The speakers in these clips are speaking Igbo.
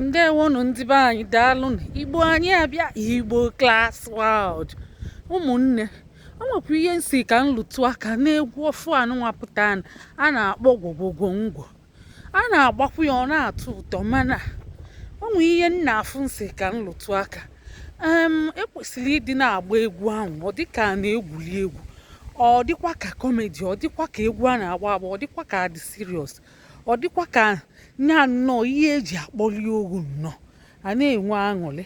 ndewonụ ndị be anyị daalụnụ igbo anyị abịa igbo class world ụmụnne o nwekwa ihe m sị ka m lụtụ aka n'egwu ọfụụ anụnwa pụta a na-akpọ gwo gwo gwo ngwo a na-agbakwu ya ọ na-atọ ụtọ mana o nwee ihe m na-afụ m sị ka m lụtụ aka e kwesịrị ịdị na-agba egwu ahụ ọ dịka a na-egwuri egwu ọ dịkwa ka comedy ọ dịkwa ka egwu a na-agba agba ọ dịkwa ka a dị serious ọ dịkwa ka nya nnọọ ihe e ji akpọli ogu nnọọ a na-enwe aṅụrị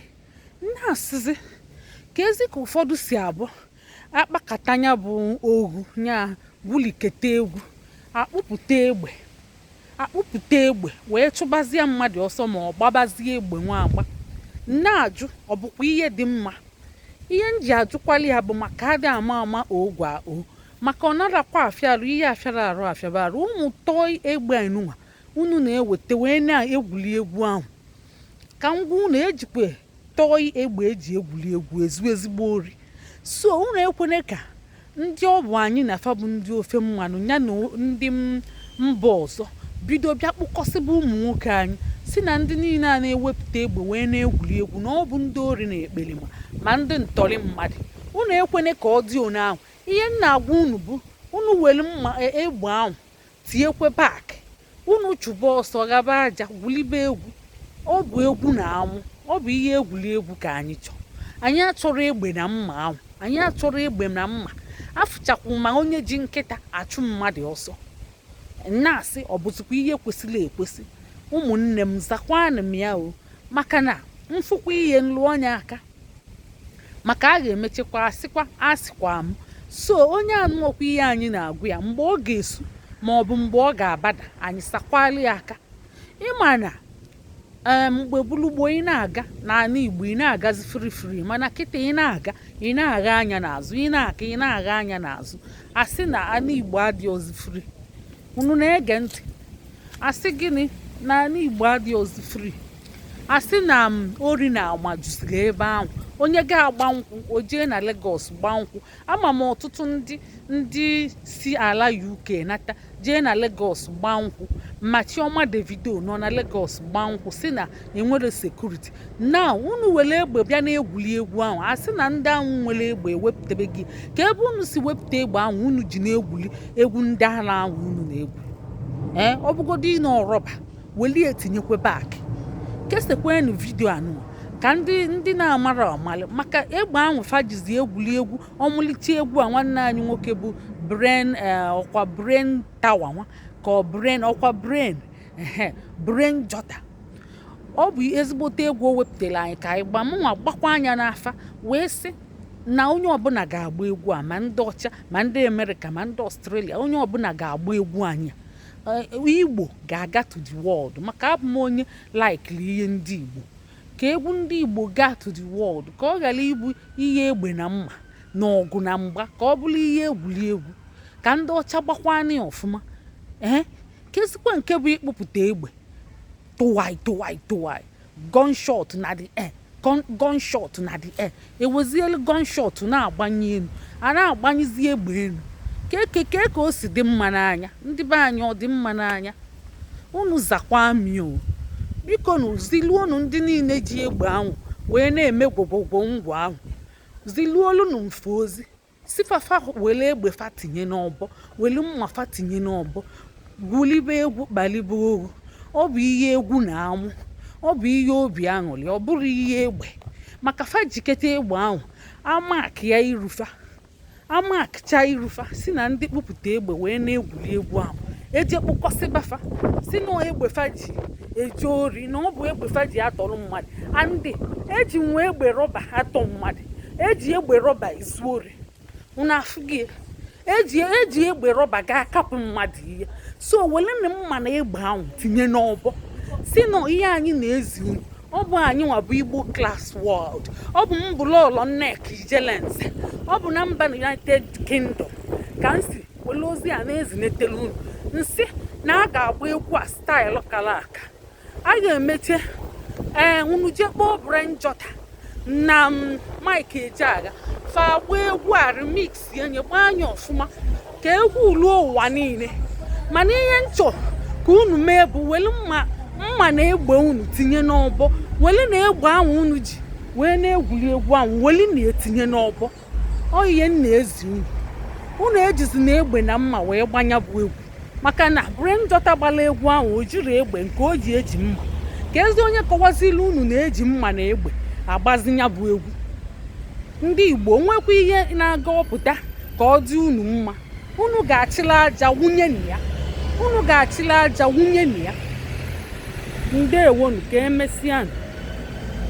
m na-asịzi kezi ka ụfọdụ si abụ akpakata nya bụ ogu nya gwuliketa egwu akpụpụta egbe akpụpụta egbe wee chụbazie mmadụ ọsọ ma ọ gbabazie egbe nwa agba m na-ajụ ọ bụkwa ihe dị mma ihe m ji ajụkwali ya bụ maka adị ama ama oge a o maka ọ narakwa afịa arụ ihe afịara arụ afịaba arụ ụmụ toy egbe enunwa unu na-eweta wee na-egwuli egwu ahụ ka m gwa unu e jikwa toy egbe e ji egwuli egwu ezu ezigbo ori so unu ekwene ka ndị ọ bụ anyị na fa bụ ndị ofe mmanụ ya na ndị mba ọzọ bido bịa kpụkọsịba ụmụ nwoke anyị sị na ndị niile a na-ewepụta egbe wee na-egwuli egwu na ọ bụ ndị ori na ekperima ma ndị ntọrị mmadụ unu ekwene ka ọ dị one ahụ ihe m na-agwa unu bụ unu were mma e, egbe ahụ tinyekwe back unu chụba ọsọ ghaba aja gwulibe egwu ọ bụ egwu na amụ ọ bụ ihe egwuli egwu ka anyị chọrọ anyị achọrọ egbe na mma ahụ anyị achọrọ egbe na mma afụchakwu ma onye ji nkịta achụ mmadụ ọsọ m na-asị ọ bụzikwa ihe kwesịrị ekwesị ụmụnne m zakwanụ m ya o maka na m fụkwa ihe m lụọ nya aka maka a ga-emechekwa asịkwa asịkwa m so onye anụọkwa ihe anyị na-agwa ya mgbe ọ ga-esu ma ọ bụ mgbe ọ ga-abada anyị sakwali ya aka ị ma na eh, mgbe bulu gboo ị na-aga n'anị igbo ị na-agazi free free mana kịta ị na-aga ị na-agha anya n'azụ ị na-aga ị na-agha anya n'azụ a sị na anị igbo adịọzi free unu na-ege ntị a sị gịnị na anị igbo adịọzi free a sị na m ori na ama juziri ebe ahụ onye ga-agba nkwụ o jee na Lagos gbaa nkwụ ama m ọtụtụ ndị ndị si ala UK nata jee na Lagos gbaa nkwụ ma Chioma Davido nọ na Lagos gbaa nkwụ sị na e nwere security na unu were egbe bịa na-egwuli egwu ahụ a sị na ndị ahụ nwere egbe ewepụtabeghị kee ebe unu si wepụta egbe ahụ unu ji na-egwuli egwu ndị ala ahụ unu na-egwu ee eh, ọ bụgodo nnọọ rubber welie tinyekwe back kesekwenụ vidio anụwa ka ndị ndị na-amarọ amalụ maka egbe ahụ fa jizi egwuli egwu ọmalịcha egwu a nwanne anyị nwoke bụ brain eh, ọ kwa brain tower nwa ka ọ brain ọ kwa brain brain jotter ọ bụ ezigbote egwu o wepụtara anyị ka anyị gba mụnwa gbakwaa nya n'afa wee sị na onye ọbụla ga-agba egwu a ma ndị ọcha ma ndị amerịka ma ndị ọstrelia onye ọbụla ga-agba egwu anyị eh, igbo ga-aga to the world maka abụ m onye laikiri ihe ndị igbo ka egwu ndị igbo gaa to the world ka ọ ghara ịbụ ihe egbe na mma na ọgụ na mgba ka ọ bụrụ ihe egwuli egwu ka ndị ọcha gbakwaa nya ọfụma ee eh, kezikwa nke bụ ịkpụpụta egbe tụwai tụwai tụwai gunshot in the air gun- gunshot in the air ewezielu gunshot na-agbanye elu a na-agbanyezi egbe elu kee ka kee ka o si dị mma n'anya ndị be anyị ọ dị mma n'anya unu zakwaa m o bikonu ziluonu ndị niile ji egbe ahụ wee na-eme gwo gwo gwo ngwo ahụ ziluolunu m fa ozi sị fa fa were egbe fa tinye n'ọbọ were mma fa tinye n'ọbọ gwulibe egwu kpalibe oru ọ bụ ihe egwu na amụ ọ bụ ihe obi aṅụrị ọ bụrọ ihe egbe maka fa jiketa egbe ahụ amakịa iru fa amakcha iru fa sị na ndị kpụpụta egbe wee na-egwuri egwu ahụ eje kpụkọsịba fa sị na egbe fa ji eje ori na ọ bụ egbe fa ji atọrọ mmadụ and eji nwa egbe rọba atọ mmadụ eji egbe rọba ezu ori unu afụgo eji eji egbe rọba ga akapụ mmadụ ihe so welenụ mma na egbe ahụ tinye n'ọbọ sị na ihe anyị na-ezi unu ọ bụ anyị nwa bụ igbo class world ọ bụ m bụ lọọlọ nneka ijelenze ọ bụ na mba united kingdom ka m si were ozi a na-ezinetela unu m sị na a ga-agba egwu a style kara aka a ga-emecha ee eh, unu jee kpọọ brain jotter na mm, mike ejeagha fa agba egwu a remixie nya gbaa nya ọfụma ka egwu ruo ụwa niile mana ihe m chọ ka unu mee bụ were mma mma na egbe unu tinye n'ọbọ werenụ egbe ahụ unu ji wee na-egwuri egwu ahụ were nya tinye n'ọbọ ọ ihe m na-ezi unu unu ejizina egbe na mma wee gbaa nya bụ egwu maka na brain jotter gbara egwu ahụ o jirọ egbe nke o ji eji mma kezi onye kọwaziri unu na eji mma na egbe agbazi nya bụ egwu ndị igbo o nwekwa ihe na-aga apụta ka ọ dị unu mma unu ga-achịla aja wunye na ya unu ga-achịla aja wunye na ya ndewonu ka emesịa